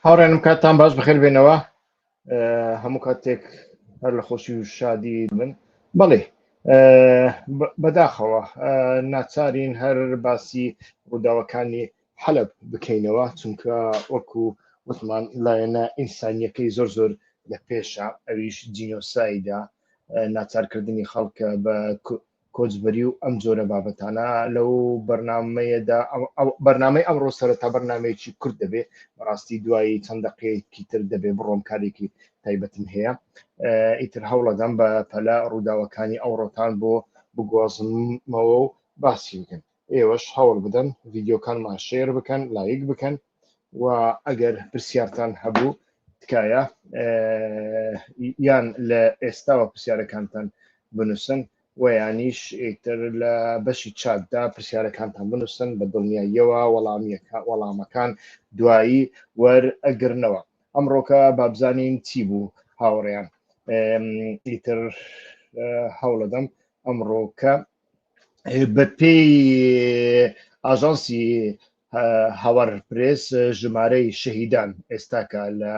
هاوڕێنم کاتان باش بخێر بێنەوە هەموو کاتێک هەر لە خۆشی و شادی من بەڵێ بەداخەوە ناچارین هەر باسی ڕووداوەکانی حەلب بکەینەوە چونکە وەکو وتمان لایەنە ئینسانیەکەی زۆر زۆر لە پێشە ئەویش جینۆسایدا ناچارکردنی خەڵکە بە کۆچبەری و ئەم جۆرە بابەتانە لەو بەرنمەیەدا بەرنمەی ئەمڕۆ سەرەتا بەرنمەیەکی کورد دەبێ بەڕاستی دوایی چەند دقەیەکی تر دەبێ بڕۆم کارێکی تایبەتم هەیە ئیتر هەوڵەدەم بە پەلا ڕووداوەکانی ئەوڕۆتان بۆ بگۆزمەوە و باسی بکەن ئێوەش هەوڵ بدەن ڤیدیۆکانمان شێر بکەن لایک بکەن و ئەگەر پرسیارتان هەبوو تکایە یان لە ئێستاوە پرسیارەکانتان بنووسن و یانیش ئیتر لە بەشی چاتدا پرسیارەکانتان بنووسن بە دڵنیاییەوە وەڵامیەکە وەڵامەکان دوایی وەر ئەگرنەوە ئەمڕۆکە بابزانین چی بوو هاوڕێیان ئیتر هەوڵەدەم ئەمڕۆکە بە پێی ئاژانسی هاوار پرێس ژمارەی شەهیدان ئێستاکە لە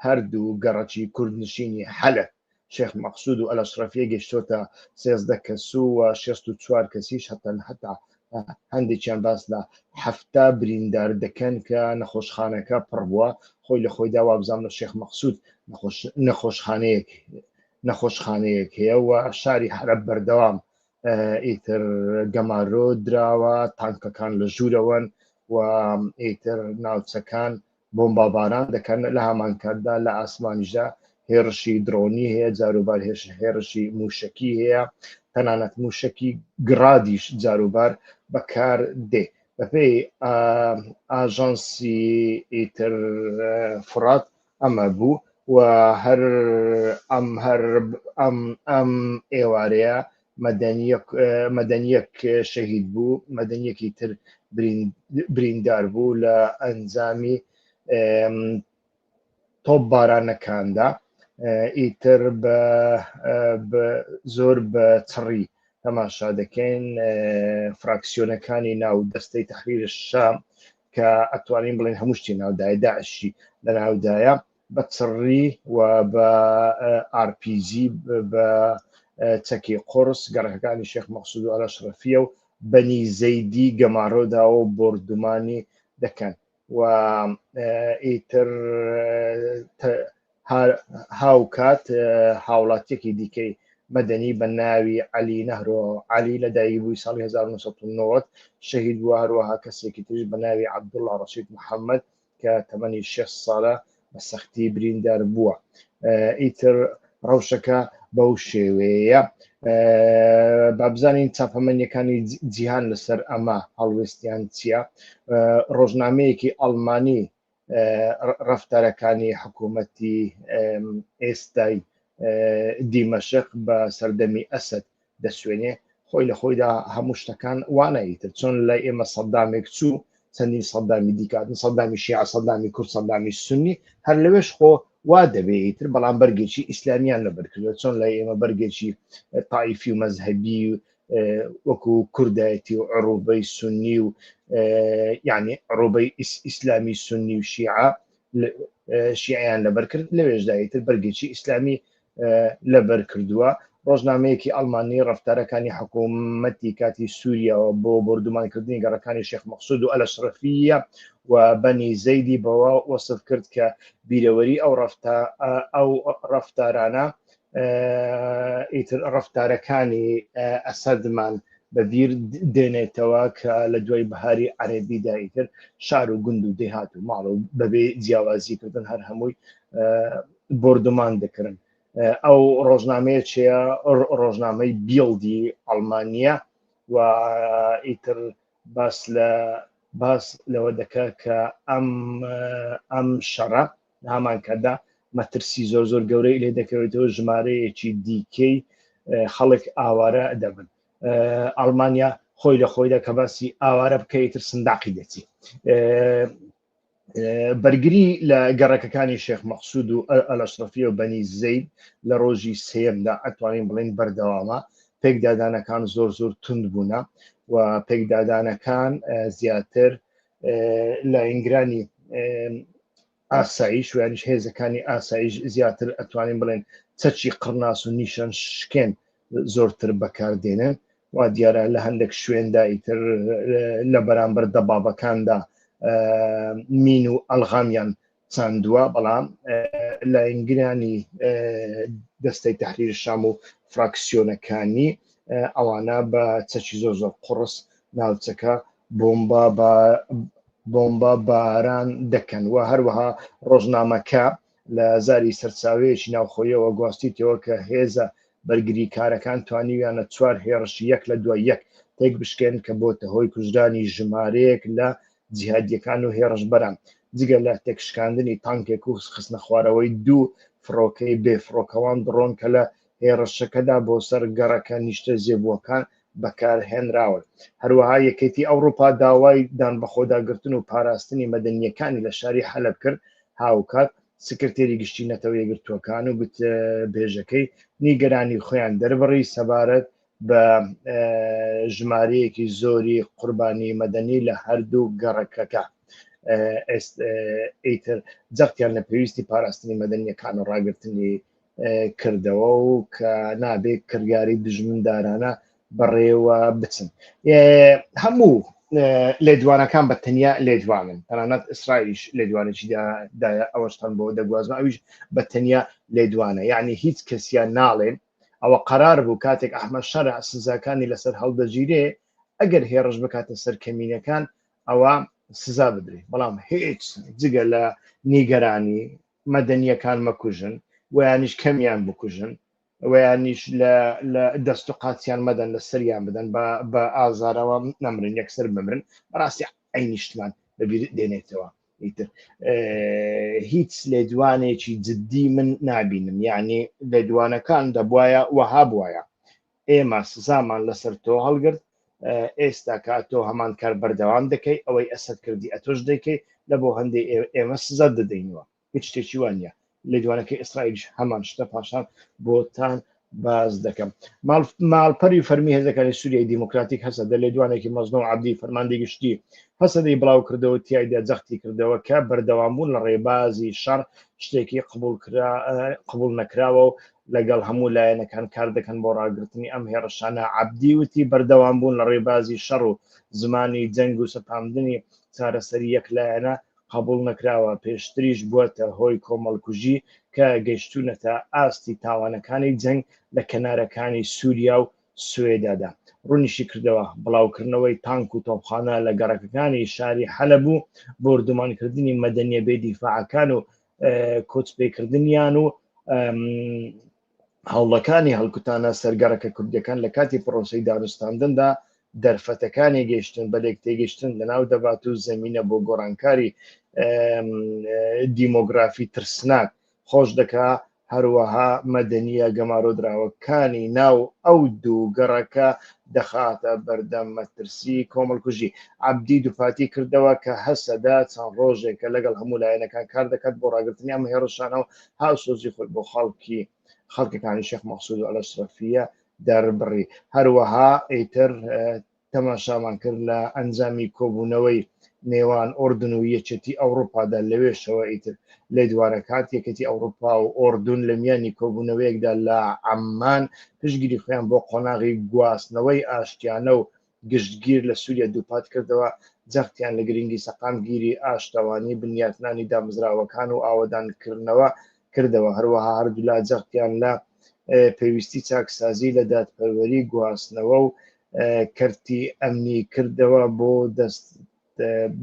هەردوو گەڕەکی کوردنشینی حەلە شێخ مەقصود و ئەلەشرەفیە گەشتۆتە سێزدە کەس و شست و چوار کەسیش هەتەن هەتا هەندێکیان باس لە هەفتا بریندار دەکەن کە نەخۆشخانەکە پڕ بووە خۆی لە خۆیدا وابزانم لە شێخ مەقصود نەخۆشخانەیەک نەخۆشخانەیەک هەیە و شاری حەلەب بەردەوام ئیتر گەمارۆ دراوە تانکەکان لە ژوورەوەن و ئیتر ناوچەکان بۆمباباران دەکەن لە هەمانکاتدا لە ئاسمانیشدا هێرشی درۆنی هەیە جاروبار هێش هێرشی موشکی هەیە تەنانەت موشکی گڕادیش جاروبار بەکار دێ بەپێی ئاژانسی ئیتر فرات ئەمە بوو و هەر ئەم هەر ئەم ئەم ئێوارەیە مەدەنیەک مەدەنیەک شەهید بوو مەدەنیەکی تر بریندار بوو لە ئەنجامی تۆپ بارانەکاندا ئیتر بە زۆر بە چڕی تەماشا دەکەین فراکسیۆنەکانی ناو دەستەی تحریر شام کە ئەتوانین بڵێن هەموو شتی ناودایە داعشی لە ناودایە بە چڕی و بە RPG بە چەکی قرس گەڕەکەکانی شێخ مەخصود و ئەلە شرەفیە و بەنی زەیدی گەمارۆداوە و بردومانی دەکەن و ئیتر هاوکات هاوڵاتیەکی دیکەی مەدەنی بە ناوی عەلی نەهرۆ عەلی لە دایکبووی ساڵی 1990 شەهید بووە هەروەها کەسێکی تریش بە ناوی عەبدوڵڵا ڕەشید محەممەد کە تەمەنی شێ ساڵە بە سەختی بریندار بووە ئیتر ڕەوشەکە بەو شێوەیە بابزانین چاپەمەنیەکانی جیهان لەسەر ئەمە هەڵوێستیان چییە ڕۆژنامەیەکی ئەڵمانی ڕفتارەکانی حکوومەتی ئێستای دیمەشق بە سەردەمی ئەسد دەسوێنێ خۆی لە خۆیدا هەموو شتەکان وانایی تر چۆن لای ئێمە سەدامێک چوو چەندین سەدامی دیکاتن سەدامی شیع سەدامی کورد سەدامی سنی هەر لەوێش خۆ وا دەبێت تر بەڵام بەرگێکی ئیسلامیان لەبەرکردوە چۆن لای ئێمە بەرگێکی تایفی و مەذهبی و وەکو کوردایەتی و عڕوبەی سنی و یعنی عڕوبەی ئیسلامی سنی و شیعە شیعیان لەبەر کرد لەوێژدایی تر بەرگێکی ئیسلامی لەبەر کردووە ڕۆژنامەیەکی ئەلمانی ڕفتارەکانی حکوومەتی کاتی سووریەوە بۆ بردومانکردنی گەڕەکانی شێخ مەخصود و ئەلە شرفیە و بەنی زەیدی بەوە وەصف کرد کە بیرەوەری ئەو ڕفتا ئەو ڕفتارانە ئیتر ڕفتارەکانی ئەسەدمان بەبییر دێنێتەوە کە لە دوای بەهاری عەربی دایتر شار و گوند و دێهات و ماڵ و بەبێ جیاوازی کردن هەر هەمووی بردومان دەکردن ئەو ڕۆژنامەیە چەیە ڕۆژنامەی بیڵدی ئەڵمانیا و ئیتر باس لە باس لەوە دەکات کە ئەم ئەم شەڕە لە هەمان کاتدا مەترسی زۆر زۆر گەورەی لێ دەکەوێتەوە ژمارەیەکی دیکەی خەڵک ئاوارە دەبن ئەڵمانیا خۆی لە خۆیدا کە باسی ئاوارە بکەیتتر سنداقی دەچی بەرگری لە گەڕەکەکانی شێخ مەخصود و ئەلەشرفی و بەنی زەید لە ڕۆژی سێمدا ئەتوانین بڵین بەردەوامە پێکدادانەکان زۆر زۆر تونند بوونە و پێکدادانەکان زیاتر لاینگرانی ئاسایش ویانش هێزەکانی ئاسایش زیاتر ئەتوانین بڵێن چەچی قڕناس و نیشان شکێن زۆرتر بەکاردێنن وا دیارە لە هەندێک شوێندا ئیتر لە بەرامبەر دەبابەکاندا مین و ئەلغامیان چاندووە، بەڵام لایەنگرانی دەستەی تەحریر شام و فراکسیۆنەکانی ئەوانە بە چەکی زۆر زۆر قوڕس ناوچەکە بۆمبا بە بۆمبا باران دەکەن و هەروەها ڕۆژنامەکە لە زاری سەرچاوەیەکی ناوخۆیەوە گواستیتەوە کە هێزە بەرگری کارەکان توانیویانە چوار هێڕشی یەک لە دوای یەک تێک بشکێن کە بۆتە هۆی کوژرانی ژمارەیەک لە جیهادییەکان و هێڕشبەران جگە لە تێکشکاندنی تانکێک و خستنەخوارەوەی دوو فڕۆکەی بێفڕۆکەوان دڕۆن کە لە هێڕشەکەدا بۆ سەر گەڕەکە نیشتەجێبووەکان بەکارهێنراون هەروەها یەکێتی ئەوروپا داوای دان بەخۆداگرتن و پاراستنی مەدەنیەکانی لە شاری حەلب کرد هاوکات سکرتێری گشتی نەتەوە یەگرتووەکان و گوتبێژەکەی نیگەرانی خۆیان دەربڕی سەبارەت بە ژمارەیەکی زۆری قوربانی مەدەنی لە هەردوو گەڕەکەکە ئیتر جەختیان لە پێویستی پاراستنی مەدەنیەکان و ڕاگررتنی کردەوە و کە نابێت کردگاری دژمندارانە بەڕێوە بچن هەموو لێدوانەکان بە تەنیا لێدوانن تەنانەت ئیسرائیش لێدوانێکی دایە ئەوەشتان بۆ دەگوازم ئەویش بە تەنیا لێدوانە یعنی هیچ کەسیان ناڵێن ئەوە قەرار بوو کاتێک ئەحمەد شەرع سزاکانی لەسەر هەڵدەگیرێ ئەگەر هێڕش بکاتە سەر کەمینەکان ئەوا سزا بدرێ بەڵام هیچ جگە لە نیگەرانی مەدەنیەکان مەکوژن ویانیش کەمیان بکوژن ویانیش لە دەست و قاچیان مەدەن لە سەریان بدەن بە ئازارەوە نەمرن یەکسەر بمرن بەڕاستی ئەی نیشتمان بەبیر دێنێتەوە ئیتر هیچ لێدوانێکی جددی من نابینم یعنی لێدوانەکان دەبواە وەها بواە ئێمە سزامان لەسەر تۆ هەڵگرت ئێستا کا تۆ هەمان کار بەردەوام دەکەی ئەوەی ئەسەر کردی ئەتۆش دەکەی لە بۆ هەندێک ئێمە سزا دەدەینەوە هیچ شتێکی وانە لێدوانەکەی ئیسرائیلیش هەمان شتە پاشان بۆتان باز دەکەم ماڵپەری فەرمی هێزەکانی سووریای دیموکراتیک هەسە دە لێدوانێکی مەزنە و عبدی فەرماندی گشتی هەسەدەی بڵاو کردەوە تایدا جەختی کردەوە کە بەردەوامبوون لە ڕێبازی شەڕ شتێکی قبول قبول نەکراوە و لەگەڵ هەموو لایەنەکان کار دەکەن بۆ ڕاگررتنی ئەم هێڕشانە عبدی وتی بەردەوام بوون لە ڕێبازی شەڕ و زمانی جەنگ و سەپاندنی چارەسەری یەک لایەنە قبوڵ نەکراوە، پێشتریش بووەتە هۆی کۆمەڵکوژی کە گەیشتوونەتە ئاستی تاوانەکانی جەنگ لە کەنارەکانی سوریا و سوێدادا. ڕوونیشیکردەوە، بڵاوکردنەوەی تانک و تۆپخانە لە گەڕەکەکانی شاری حەلەب و بۆردومانکردنی مەدەنیە بێ دیفاعەکان و کۆچپێکردنیان و هەوڵەکانی هەڵکوتانە سەر گەڕەکە کوردییەکان لە کاتی پڕۆسەی دانوستاندندا دەرفەتەکانی گەیشتن بە لێکتێگەیشتن لەناو دەبات و زەمینە بۆ گۆڕانکاری دیمۆگرافی ترسناک خۆش دەکا هەروەها مەدەنیە گەمارۆدراوەکانی ناو ئەو دوو گەڕەکە دەخاتە بەردەم مەترسی کۆمەڵکوژی عبدی دووپاتی کردەوە کە هەسەدا چەند ڕۆژێکە لەگەڵ هەموو لایەنەکان کار دەکات بۆ ڕاگرتنی ئەم هێڕشانەوە هاوسۆزی خۆی بۆ خەڵکی خەڵکەکانی شێخ مەقسود و ئەلەشرەفیە دەربڕی هەروەها ئیتر تەماشامان کرد لە ئەنجامی کۆبوونەوەی نێوان ئۆردن و یەکێتی ئەوروپادا لەوێشەوە ئیتر لە دوارە کات یەکەتی ئەوروپا و ئۆردون لە میانی کۆبوونەوەیەکدا لە ئەممان پشگیری خۆیان بۆ قۆناغی گواستنەوەی ئاشتیانە و گشتگیر لە سووریا دووپات کردەوە، جەختیان لە گرنگی سەقامگیری، ئاشتەوانی، بنیاتنانی دامەزراوەکان و ئاوەدانکردنەوە کردەوە، هەروەها هەردوولا جەختیان لە پێویستی چاکسازی لە دادپەروەری، گواستنەوە و کەرتی ئەمنی کردەوە بۆ دەست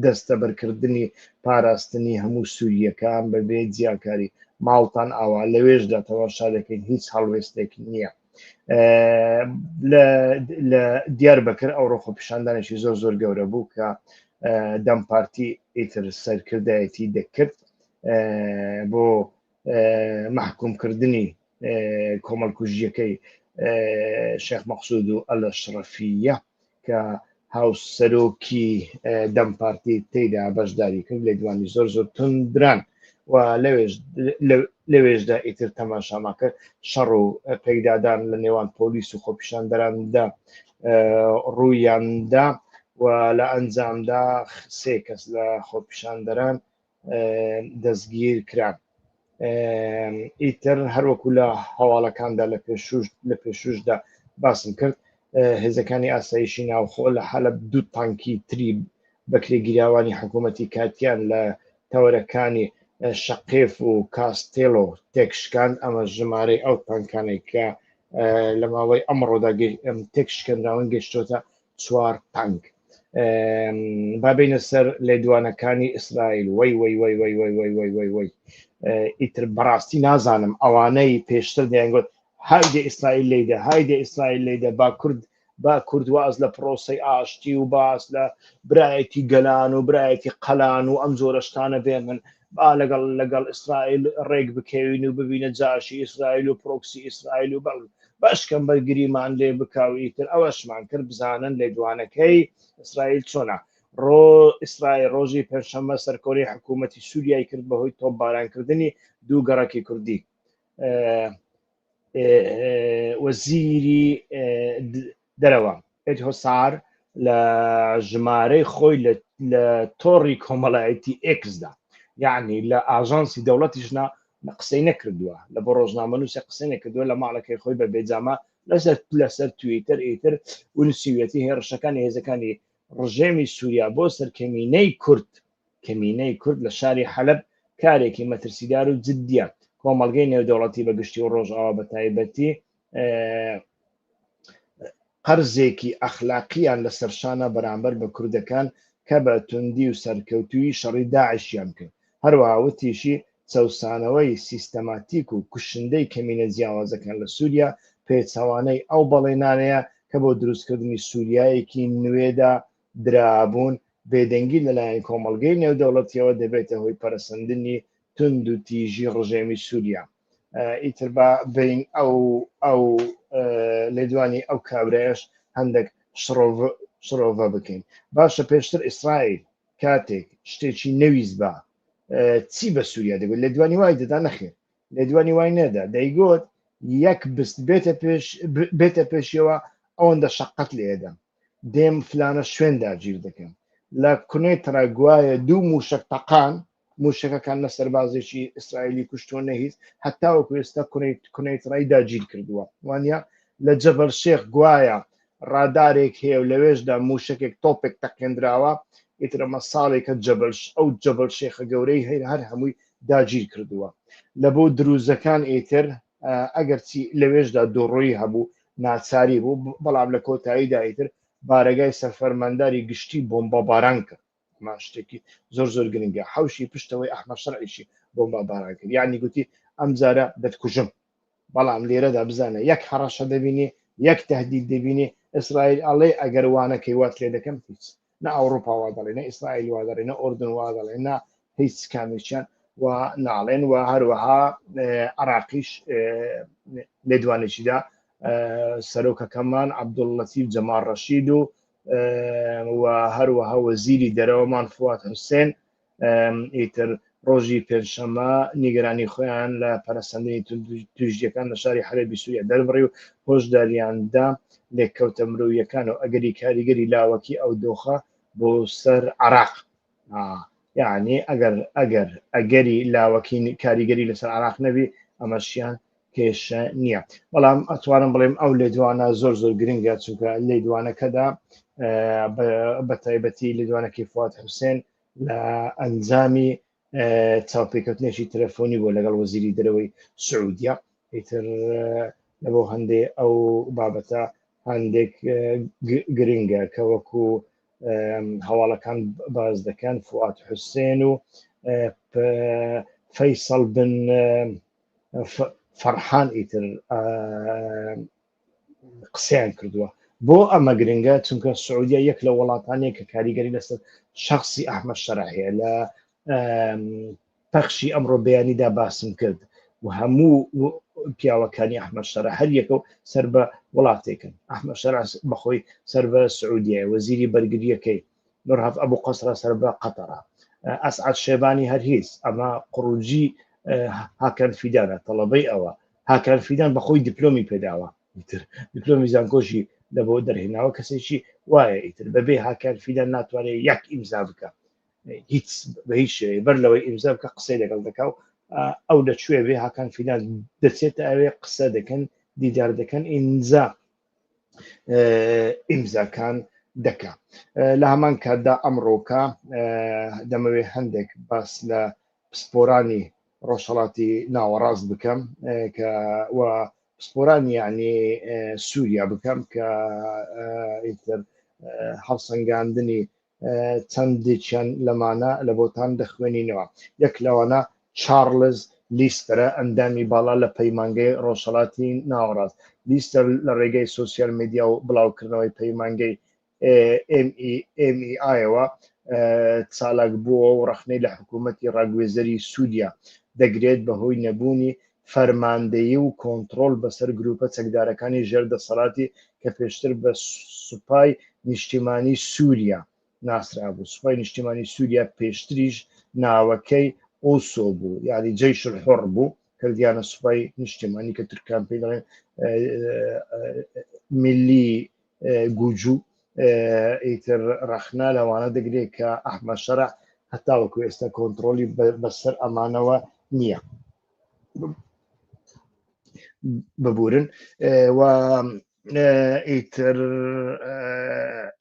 دەستەبەرکردنی پاراستنی هەموو سوورییەکان بەبێ جیاکاری ماڵتان ئاوا لەوێشدا تەواشا دەکەین هیچ هەڵوێستێک نییە لە دیار بەکر ئەو ڕۆخۆ پیشاندانێکی زۆر زۆر گەورە بوو کە دەم پارتی ئیتر سەرکردایەتی دەکرد بۆ مەحکومکردنی کۆمەڵکوژیەکەی شێخ مەقصود و ئەلە شڕەفیە کە هاوسەرۆکی دەم پارتی تێدا بەشداری کرد لە دوانی زۆر زۆر تندران و لەوێشدا ئیتر تەماشاما کرد شەڕ و پێکدادان لە نێوان پۆلیس و خۆپیشاندەراندا ڕوویاندا و لە ئەنجامدا سێ کەس لە خۆپیشاندەران دەستگیر کران ئیتر هەروەکو لە هەواڵەکاندا لە پێشوش لە پێشوشدا باسم کرد هێزەکانی ئاسایشی ناوخۆ لە حەلب دوو تانکی تری بەکرێگیراوانی حکوومەتی کاتیان لە تەوەرەکانی شەقێف و کاستێلۆ تێکشکان ئەمە ژمارەی ئەو تانکانێک کە لە ماوەی ئەمڕۆدا تێکشکەنراون گەشتۆتە چوار تانک بابینە سەر لێدوانەکانی ئیسرائیل وەی وەی وەی وەی وەی وەی وەی وەی وەی ئیتر بەڕاستی نازانم ئەوانەی پێشتر دەیانگوت هایدە ئیسرائیل لیدە هایدە ئیسرائیل لیدە با کورد با کورد واز لە پرۆسی ئاشتی و باس لە برایەتی گەلان و برایەتی قەلان و ئەم جۆرەشتانە بێ من با لەگەڵ لەگەڵ ئیسرائیل ڕێک بکەوین و ببینە جاشی ئیسرائیل و پرۆکسی ئیسرائیل و بەڵ بەشکەم بەرگریمان لێ بکاو ئیتر ئەوەشمان کرد بزانن لێدوانەکەی ئیسرائیل چۆنە ڕۆ ئیسرائیل ڕۆژی پێنجشەممە سەرکۆنەی حکوومەتی سووریای کرد بەهۆی تۆپبارانکردنی دوو گەڕەکی کوردی وەزیری دەرەوە ئێت هۆسار لە ژمارەی خۆی لە تۆڕی کۆمەڵایەتی ئێکسدا یعنی لە ئاژانسی دەوڵەتیشنا قسەی نەکردووە لە بۆ ڕۆژنامەنووسە قسەی نەکردووە لە ماڵەکەی خۆی بە بێجامە لەسەر لەسەر تویتر ئیتر ونسیویەتی هێڕشەکانی هێزەکانی ڕژێمی سووریا بۆ سەرکەمینەی کورد کەمینەی کورد لە شاری حەلەب کارێکی مەترسیدار و جدییە، کۆمەڵگەی نێودەوڵەتی بە گشتی و ڕۆژئاوا بە تایبەتی قەرزێکی ئەخلاقییان لەسەر شانە بەرامبەر بە کوردەکان کە بە توندی و سەرکەوتوویی شەڕی داعشیان کرد. هەروەها وتیشی، چەوسانەوەی سیستەماتیک و کوشندەی کەمینە جیاوازەکان لە سووریا پێچەوانەی ئەو بەڵێنانەیە کە بۆ دروستکردنی سووریایەکی نوێدا درابوون، بێدەنگی لەلایەن کۆمەڵگەی نێودەوڵەتییەوە دەبێتە هۆی پەرەسەندنی توندوتیژی ڕژێمی سووریا. ئیتر با بێین ئەو لێدوانی ئەو کابرایەش هەندێک شڕۆڤە بکەین. باشە پێشتر ئیسرائیل کاتێک شتێکی نەویستبا چی بە سووریا دەگوت؟ لێدوانی وای دەدا؟ نەخێر، لێدوانی وای نەدا. دەیگوت یەک بست بێتە پێشیەوە ئەوەندە شەققەت لێ دەم. دێم فلانە شوێن داگیر دەکەم لە کونەی تڕە گوایە دوو موشک تەقان موشەکەکان نە سەربازێکی ئیسرائیلی کوشتۆ نەهیز هەتا وەکو ئێستا کونەی کونەی تڕای داگیر کردووە وانە لە جەبەر شێخ گوایە ڕادارێک هەیە و لەوێشدا موشکێک تۆپێک تەقێنراوە ئیترەمە ساڵێکە جەبل ئەو جەبل شێخە گەورەی هەیر هەر هەمووی داگیر کردووە لە بۆ دروزەکان ئیتر ئەگەرچی لەوێشدا دۆڕۆی هەبوو ناچاری بوو بەڵام لە کۆتایی دایتر بارەگای سەرفەرمانداری گشتی بۆمبا باران کرد مان شتێکی زۆر زۆر گرنگە حوشی پشتەوەی ئەحمە شەرعیشی بۆمبا باران کرد یعنی گوتی ئەم جارە دەتکوژم بەڵام لێرەدا بزانە یەک هەڕەشە دەبینی یەک تهدید دەبینی ئیسرائیل ئەڵێ ئەگەر وانەکەی وات لێ دەکەم هیچ نە ئەوروپا وا دەڵێ نە ئیسرائیل وا دەڵێ نە ئۆردن وا دەڵێ نە هیچ کامێکیان و ناڵێن و هەروەها عراقیش لێدوانێکیدا سەرۆکەکەمان عبدوڵەتی جەمار ڕەشید و و هەروەها وەزیری دەرەوەمان فوات حوسێن ئیتر ڕۆژی پێنجشەممە نیگەرانی خۆیان لە پەرسەندنی توژیەکان لە شاری حەربی سووریا دەربڕی و هۆشداریاندا لێککەوتە مرۆیەکان و ئەگەری کاریگەری لاوەکی ئەو دۆخە بۆ سەر عراق یعنی ئەگەر ئەگەر ئەگەری لاوەکین کاریگەری لەسەر عراق نەبی ئەمەشیان کێشە نییە بەڵام ئەتوانم بڵێم ئەو لێدوانە زۆر زۆر گرنگە چونکە لێدوانەکەدا بە تایبەتی لێدوانەکەی فات حوسێن لە ئەنجامی چاوپێکەوتنێکی تەلەفۆنی بۆ لەگەڵ وەزیری دەرەوەی سعودیە ئیتر لەبۆ هەندێ ئەو بابەتە هەندێک گرنگە کە وەکو هەواڵەکان باز دەکەن فوات حوسێن و فەیسەڵ بن فەرحان ئیتر قسەیان کردووە بۆ ئەمە گرنگە چونکە سعودیە یەک لە وڵاتانەیە کە کاریگەری لەسەر شخصی ئەحمە شەرع هەیە لە پەخشی ئەمڕۆ بەیانیدا باسم کرد و هەموو پیاوەکانی ئەحمە شەر هەر یەکە و سەر بە وڵاتێکن ئەحمە شەر بەخۆی سەر بە سعودیە وەزیری بەرگریەکەی نورهەڤ ئەبو قەسرە سەر بە قەتەرە ئەسعەد شێبانی هەر هیچ ئەمە قڕوجی هاکەن فیدانە تەڵەبەی ئەوە هاکەن فیدان بەخۆی دیپلۆمی پێداوە دیپلۆمی زانکۆشی لە بۆ دەرهێناوە کەسێکی وایە ئیتر بەبێ هاکەن فیدان ناتوانێت یەک ئیمزا بکە هیچ بە هیچ شێوەیە بەر لەوەی ئیمزا بکە قسەی لەگەڵ دەکا و ئەو لەکوێ بێ هاکان فیدان دەچێتە ئەوێ قسە دەکەن دیدار دەکەن ئینجا ئیمزاکان دەکا لە هەمان کاتدا ئەمڕۆکە دەمەوێت هەندێک باس لە پسپۆرانی ڕۆژهڵاتی ناوەڕاست بکەم کە پسپۆرانی یعنی سووریا بکەم کە ئیتر هەڵسەنگاندنی چەندیکیان لەمانە لە بۆتان دەخوێنینەوە، یەک لەوانە چارلز لیستەرە، ئەندامی باڵا لە پەیمانگەی ڕۆژهەڵاتی ناوەڕاست. لیستەر لە ڕێگەی سۆسیال میدیا و بڵاوکردنەوەی پەیمانگەی MEA ەوە چالاکبووەوە و ڕەخنەی لە حکوومەتی ڕاگوێزەری سووریا دەگرێت بەهۆی نەبوونی فەرماندەیی و کۆنتڕۆڵ بەسەر گرووپە چەکدارەکانی ژێر دەسەڵاتی کە پێشتر بە سوپای نیشتیمانی سووریا ناسرابوو، سوپای نیشتیمانی سووریا پێشتریش ناوەکەی ئوسۆ بوو یانی جەیش الحوڕ بوو کردیانە سوپای نیشتیمانی کە تورکان پێی دەڵێن ملی گوجوو ئیتر ڕەخنا لەوانە دەگرێت کە ئەحمە شەرع هەتاوەکو ئێستا کۆنتترۆلی بەسەر ئەمانەوە نییە. ببورن و ئیتر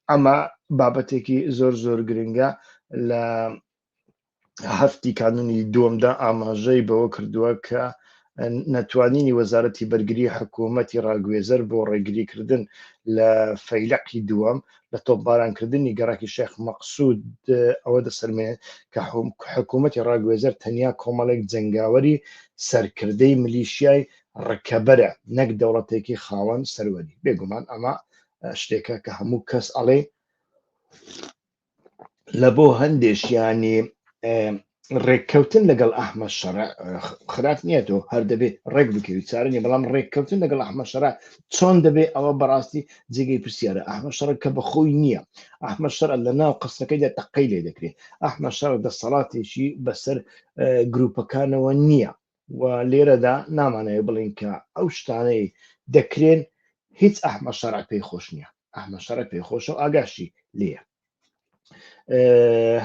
ئەمە بابەتێکی زۆر زۆر گرنگە لە هەفتی کانونی دووەمدا ئاماژەی بەوە کردووە کە نەتوانینی وەزارەتی بەرگری حکوومەتی ڕاگوێزەر بۆ ڕێگریکردن لە فەیلقی دووەم لە تۆپبارانکردنی گەڕەکی شێخ مەقسود ئەوە دەسەلمێنێت کە حکوومەتی ڕاگوێزەر تەنیا کۆمەڵێک جەنگاوەری سەرکردەی ملیشیای ڕکەبەرە نەک دەوڵەتێکی خاوەن سەروەری بێگومان ئەمە شتێکە کە هەموو کەس ئەڵێ لە بۆ هەندێشیانی ڕێککەوتن لەگەڵ ئەحمەد شەرع خراپ نییە تۆ هەر دەبێ ڕێک بکەوی چارە نیە بەڵام ڕێککەوتن لەگەڵ ئەحمەد شەرع چۆن دەبێ ئەوە بەڕاستی جێگەی پرسیارە ئەحمەد شەڕ کە بە خۆی نییە ئەحمەد شەرع لە ناو قسەکەیدا تەقەی لێ دەکرێت ئەحمەد شەڕ دەسەڵاتێکی بەسەر گروپەکانەوە نییە و لێرەدا نامانەوێت بڵێین کە ئەو شتانەی دەکرێن هیچ ئەحمە شەرع پێی خۆش نییە ئەحمە شەرع پێی خۆشە و ئاگاشی لێە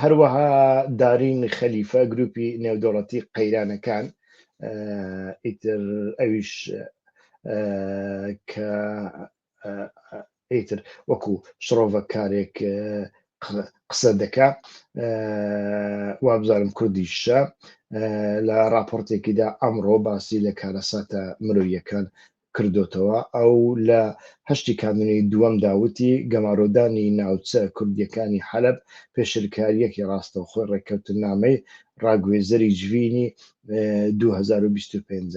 هەروەها دارین خەلیفە گروپی نێودەوڵەتی قەیرانەکان ئیتر ئەویش کە ئیتر وەکو شڕۆڤە کارێک قسە دەکا وابزانم کوردیشە لە راپۆرتێکیدا ئەمڕۆ باسی لە کارەساتە مرۆیەکان کردوتەوە ئەو لە هەشتی کانونی دووەم داوتی گەمارۆدانی ناوچە کوردیەکانی حەلب پێشرکاریەکی ڕاستە و خۆی ڕێککەوتنامەی ڕاگوێزەری جوینی 2025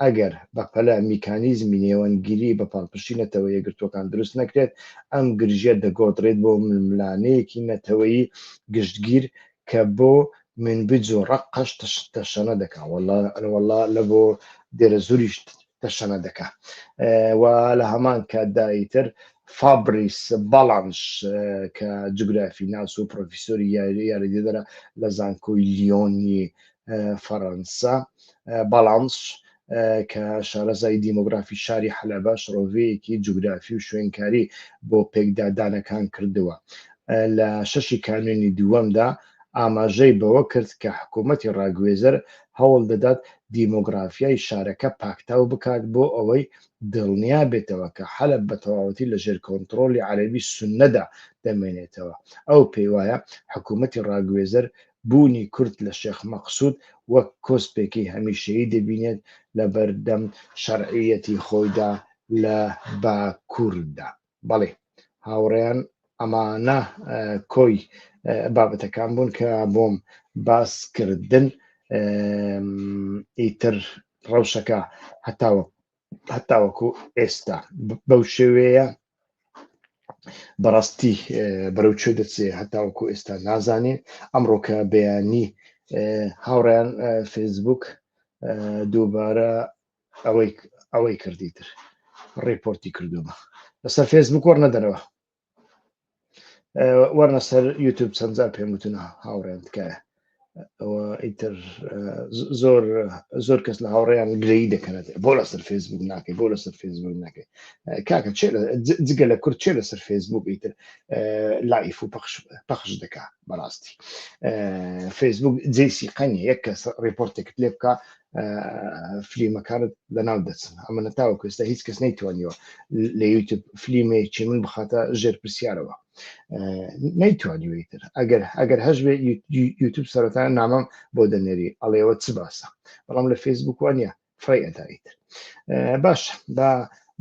ئەگەر بەپەلە میکانیزمی نێوەندگیری بە پاڵپشتی نەتەوە یەکگرتووەکان دروست نەکرێت، ئەم گرژییە دەگۆڕدرێت بۆ ململانێیەکی نەتەوەیی گشتگیر کە بۆ منبج و ڕەققەش تەشەنە دەکا و وەڵا لە بۆ دێرەزووریش تەشەنە دەکا و لە هەمان کاتدا ئیتر فابریس باڵانش کە جوگرافی ناس و پرۆفیسۆری یاری یاریدەدەرە لە زانکۆی لیۆنی فەرەنسا باڵانس کە شارەزای دیموگرافی شاری حەلەبە شڕۆڤەیەکی جوگرافی و شوێنکاری بۆ پێکدادانەکان کردووە لە شەشی کانونی دووەمدا ئاماژەی بەوە کرد کە حکوومەتی ڕاگوێزەر هەوڵ دەدات دیموگرافیای شارەکە پاکتاو بکات بۆ ئەوەی دڵنیا بێتەوە کە حەلب بە تەواوەتی لە ژێر کۆنتترۆلی عەربی سنەدا دەمێنێتەوە ئەو پێی وایە حکوومەتی ڕاگوێزەر بوونی کورد لە شێخ مەقسود وەک کۆسپێکی هەمیشەیی دەبینێت لە بەردەم شەرعییەتی خۆیدا لە باکووردا. بەڵی هاوڕێیان ئەمانە کۆی بابەتەکان بوون کە بۆم باس کردن ئیتر ڕەوشەکە هەتاوە هەتاوەکو ئێستا بەو شێوەیە بەڕاستی بەرەو چێ دەچێ هەتاوەکو ئێستا نازانێ ئەمڕۆکە بەیانی هاوڕیان فەیسبوک دووبارە ئەوەی ئەوەی کردی تر ڕێپۆرتی کردومە لەسەر فێسبوک وەرنەدەرەوە وەرنە سەر یوتوب چەندجار پێم وتن هاوڕێن تکایە ئەوە ئیتر زۆر زۆر کەس لە هاوڕێیان گرەی دەکەنێت بۆ لەسەر فێسبوک ناکەی بۆ لەسەر فێسبوک ناکەی کاکە جگە لە کورد چێ لەسەر فێسبوک ئیتر لایف و پەخش دەکا بەڕاستی فێسبوک جێسی قەنی یەک کەس ڕێپۆرتێکت لێ بکە فلیمەکانت لەناو دەچن ئەمە نەتاوە کوێستا هیچ کەس نەیتوانیەوە لە یوتب فلیمێکی من بخاتە ژێر پرسیارەوە نەیتوانیوەیتر ئەگەر ئەگەر هەش بێ یوتب سەرەتا نامەم بۆ دەنێری ئەڵێەوە چ باسە بەڵام لە فەیسبوک وانە فڕی ئەدایتر باش بە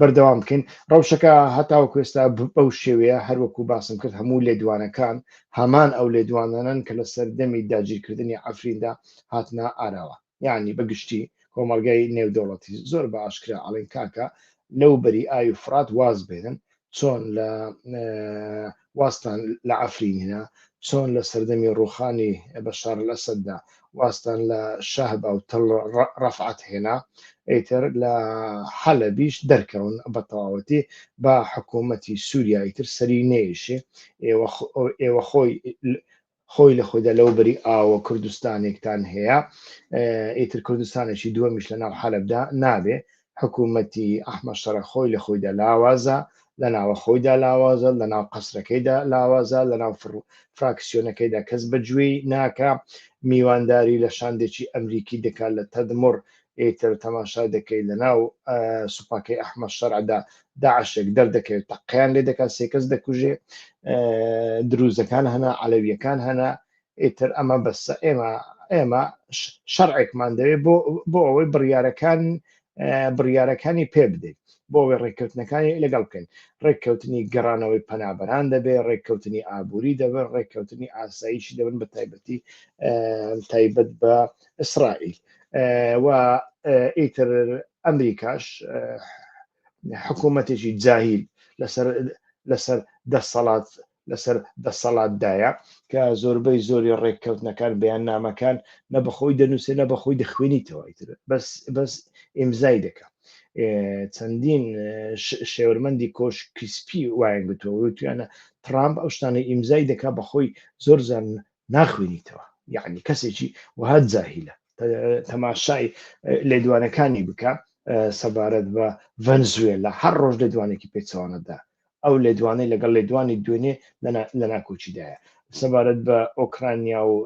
بەردەوام بکەین ڕەوشەکە هەتاوە کوێستا بەو شێوەیە هەروەکو باسم کرد هەموو لێدوانەکان هەمان ئەو لێدوانانن کە لە سەردەمی داگیرکردنی ئەفریندا هاتنە ئاراوە یعنی بە گشتی کۆمەلگای نێودەوڵەتی زۆر بە ئاشکرا ئەڵێن کاکە لەو بەری ئاوی فرات واز بێنن چۆن لە وازتان لە عەفرین هێنا؟ چۆن لە سەردەمی ڕووخانی بەشار ئەلئەسەددا وازتان لە شەهبا و تەل ڕەفعەت هێنا؟ ئیتر لە حەلەبیش دەرکەون بە تەواوەتی، با حکوومەتی سووریا ئیتر سەری نەیشێ، ئێوە خۆی خۆی لە خۆیدا لەوبەری ئاوە کوردستانێکتان هەیە ئیتر کوردستانێکی دووەمیش لە ناو حەلەبدا نابێ حکوومەتی ئەحمە شەڕە خۆی لە خۆیدا لاوازە لە ناوە خۆیدا لاوازە لە ناو قەسرەکەیدا لاوازە لە ناو فراکسیۆنەکەیدا کەس بەگوێی ناکە میوانداری لە شاندێکی ئەمریکی دەکات لە تەدمڕ ئیتر تەماشای دەکەی لەناو سوپاکەی ئەحمە شەرعدا داعشێک دەردەکەوێت تەقیان لێ دەکات سێکەس دەکوژێ دروزەکان هەنا علەویەکان هەنا ئیتر ئەمە بەسە ئێمە ئێمە شەرعێکمان دەوێت بۆ بۆ ئەوەی بڕیارەکان بڕیارەکانی پێ بدەیت بۆ ئەوەی ڕێککەوتنەکانی لەگەڵ بکەین ڕێککەوتنی گەڕانەوەی پەنابەران دەبێ ڕێککەوتنی ئابووری دەبن ڕێککەوتنی ئاساییشی دەبن بە تایبەتی تایبەت بە ئیسرائیل و ئیتر ئەمریکاش حکوومەتێکی جاهیل لەسەر لەسەر دەسەڵات لەسەر دەسەڵاتدایە کە زۆربەی زۆری ڕێککەوتنەکان بەیان نامەکان نە بەخۆی دەنووسێ نە بەخۆی دەخوێنیتەوە ئیتر بەس بەس ئیمزای دەکە چەندین شێورمەندی کۆش کریسپی وایان گوتووە وتویانە ترامپ ئەو شتانە ئیمزای دەکا بەخۆی زۆر زان ناخوێنیتەوە یعنی کەسێکی وەها جاهیلە تەماشای لێدوانەکانی بکە سەبارەت بە ڤەنزوێلا هەر ڕۆژ لێدوانێکی پێچوانەدا ئەو لێدوانەی لەگەڵ لێدوانی دوێنێ لە ناکۆچیدایە سەبارەت بە ئۆکرانیا و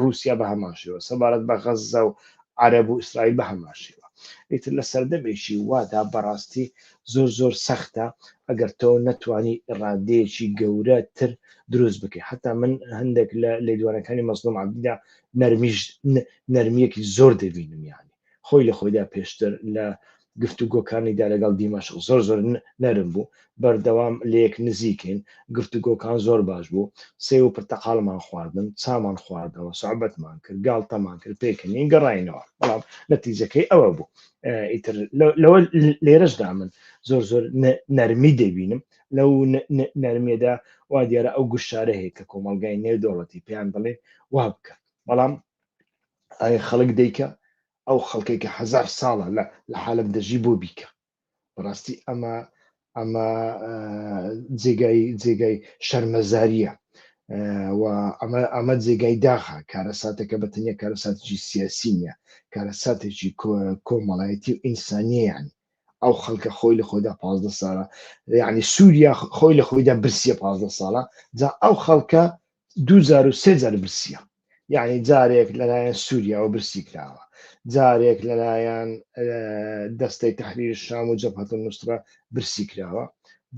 رووسیا بە هەماشەوە سەبارەت بە غەززە و عرب و ئیسرائیل بە هەماشەوە ئیتر لە سەردەمێکی وادا بەڕاستی زۆر زۆر سەختە ئەگەر تۆ نەتوانی ئیڕادەیەکی گەورە تر دروست بکەی حتا من هەندێک لە لێدوانەکانی مەزلوم عبدیدا نەرمیش نەرمیەکی زۆر دەبینم یانی خۆی لە خۆیدا پێشتر لە گفتوگۆکانیدا لەگەڵ دیمەشق زۆر زۆر نەرم بوو بەردەوام لەیەک نزیکین گفتوگۆکان زۆر باش بوو سێ و پرتەقالمان خواردن چامان خواردەوە سعبەتمان کرد گاڵتەمان کرد پێکەنین گەڕینەوە بەڵام نەتیجەکەی ئەوە بوو ئیتر لەوە لێرەشدا من زۆر زۆر نەرمی دەبینم لەو نەرمێدا وا دیارە ئەو گوشارە هەیە کە کۆمەلگای نێودەوڵەتی پێیان دەڵێ وا بکە بەڵام ئایا خەڵک دیکە ئەو خەڵکێکە هزار ساڵە لە لە حالم دەژی بۆ بیکە بەڕاستی ئەمە ئەمە جێگای جێگای شەرمەزاریە ئەمە ئەمە جێگای داخە کارەساتەکە بە تەنیا کارەساتێکی سیاسی نیە کارەساتێکی کۆمەڵایەتی و ئینسانیان ئەو خەڵکە خۆی لە خۆیدا پ ساڵە یعنی سووریا خۆی لە خۆیدا برسیە پ ساڵە جا ئەو خەڵکە دوو جار و سێ جار برسیە یعنی جارێک لەلایەن سووریاوە برسی کراوە جارێک لەلایەن دەستەی تحریر شام و جەپەت نووسرا برسی کراوە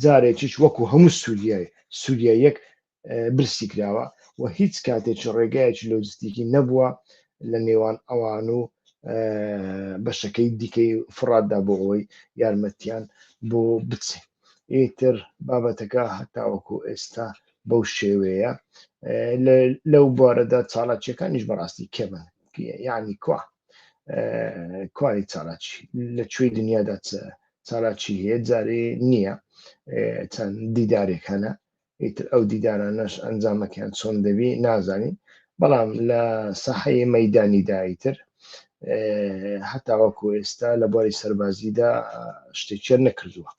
جارێکیش وەکو هەموو سووریای سووریا یەک برسی کراوە و هیچ کاتێکی ڕێگایەکی لۆجستیکی نەبووە لە نێوان ئەوان و بەشەکەی دیکەی فڕاتدا بۆ ئەوەی یارمەتیان بۆ بچێت ئیتر بابەتەکە هەتاوەکو ئێستا بەو شێوەیە لەو بارەدا چاڵاکیەکانیش بەڕاستی کەمن یعنی کوا کوای چالاکی لە کوێی دنیادا چالاکی هەیە جارێ نییە چەند دیدارێکانە ئیتر ئەو دیدارانەش ئەنجامەکەیان چۆن دەبی نازانین بەڵام لە سەحەیە مەدانیدایتر هەتاوەکو ئێستا لە بواری سەربازیدا شتێکیان نەکردووە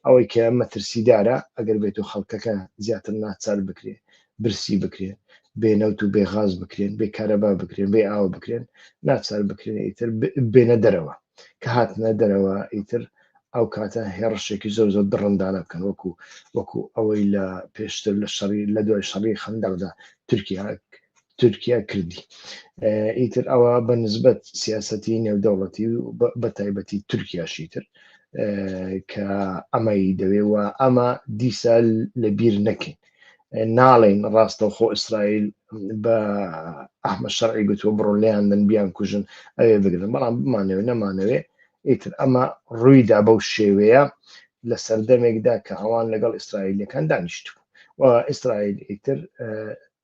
ئەوەی کە مەترسیدارە ئەگەر بێت و خەڵکەکە زیاتر ناچار بکرێ برسی بکرێن بێنەوت و بێغاز بکرێن بێ کارەبا بکرێن بێ ئاوە بکرێن ناچار بکرێن ئیتر بێنە دەرەوە کە هاتنە دەرەوە ئیتر ئەو کاتە هێڕشێکی زۆر زۆر دڕندانە بکەن وەکو وەکو ئەوەی لە پێشتر لە شەڕی لە دوای شەڕی خەندەقدا تورکیا تورکیا کردی ئیتر ئەوە بە نسبەت سیاسەتی نێودەوڵەتی و بە تایبەتی تورکیاشی تر کە ئەمەی دەوێ و ئەمە دیسا لە بیر نەکەین ناڵین ڕاستەوخۆ ئیسرائیل بە ئەحمە شەرعی گوتووە بڕۆ لیان من بیان کوژن ئەوێ بگرن بەڵام بمانەوە نەمانەوێ ئیتر ئەمە ڕوویدا بەو شێوەیە لە سەردەمێکدا کە ئەوان لەگەڵ ئیسرائیلەکان دانیشتبوو و ئیسرائیل ئیتر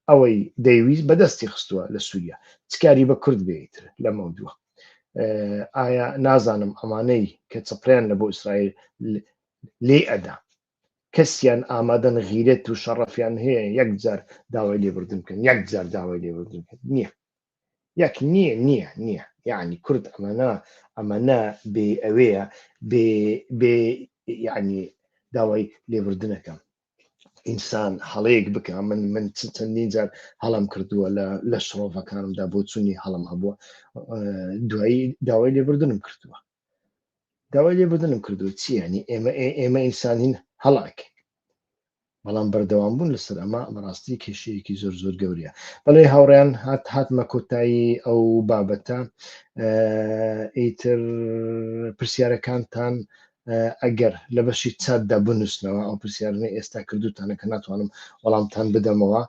ئەوەی دەیویست بەدەستی خستووە لە سووریا چ کاری بە کورد بێ ئیتر لەمەو دووە ئایا نازانم ئەمانەی کە چپڕیان لە بۆ ئیسرائیل لێی ئەدا کەسیان ئامادەن غیرێت و شەڕەفیان هەیە یەک جار داوای لێبوردن بکەن یەک جار داوای لێبوردن بکەن نییە یەک نییە نییە نییە یعنی کورد ئەمەنا ئەمەنا بێ ئەوەیە بێ بێ یعنی داوای لێبوردنەکەم ئینسان هەڵەیەک بکە من من چەندین جار هەڵم کردووە لە لە شڕۆڤەکانمدا بۆ چوونی هەڵم هەبووە دوایی داوای لێبردنم کردووە داوای لێبدنم کردو چیانی ئێمە ئێمە ئینسانین هەڵاک بەڵام بەردەوام بوون لەسەر ئەمە بەڕاستی کێشەیەکی زۆر زۆر گەورەیە بەڵێ هاوڕیان هات هاتمە کۆتایی ئەو بابەتە ئیتر پرسیارەکانتان ئەگەر لە بەشی چاتدا بنووسنەوە ئەو پرسیارانەی ئێستا کردووتانە کە ناتوانم وەڵامتان بدەمەوە،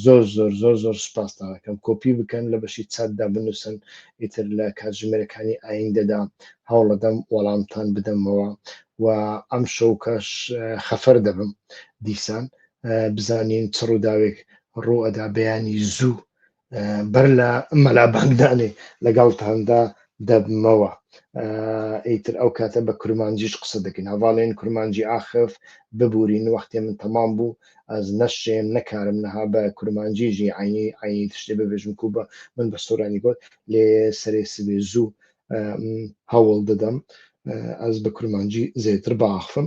زۆر زۆر زۆر زۆر سوپاستان ئەکەم کۆپی بکەن لە بەشی چاتدا بنووسن، ئیتر لە کاتژمێرەکانی ئاییندەدا هەوڵەدەم وەڵامتان بدەمەوە و ئەمشەو کەش خەفەر دەبم دیسان بزانین چ ڕووداوێک ڕوو ئەدا بەیانی زوو بەر لە مەلا بانگدانێ لەگەڵتاندا دەبمەوە ئیتر ئەو کاتە بە کورمانجیش قسە دەکەین هەواڵێن کورمانجی ئاخف ببورین وەختێ من تەمام بوو ئەز نەشێم نەکارم نەها بە کورمانجیژی عینی عینی تشتێ ببێژم کو بە من بە سۆرانی گۆت لێ سەرێ سبێ زوو هەوڵ دەدەم ئەز بە کورمانجی زێتر باخفم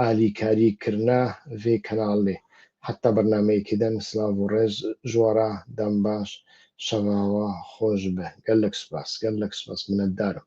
ئالیکاری کرنە ڤی کەناڵێ حەتتا بەرنامەی کیدەن سلاڤ و ڕێز ژوەڕا دەم باش شەڤاوە خۆش بێ گەلەک سوپاس گەلەک سوپاس منەتدارم.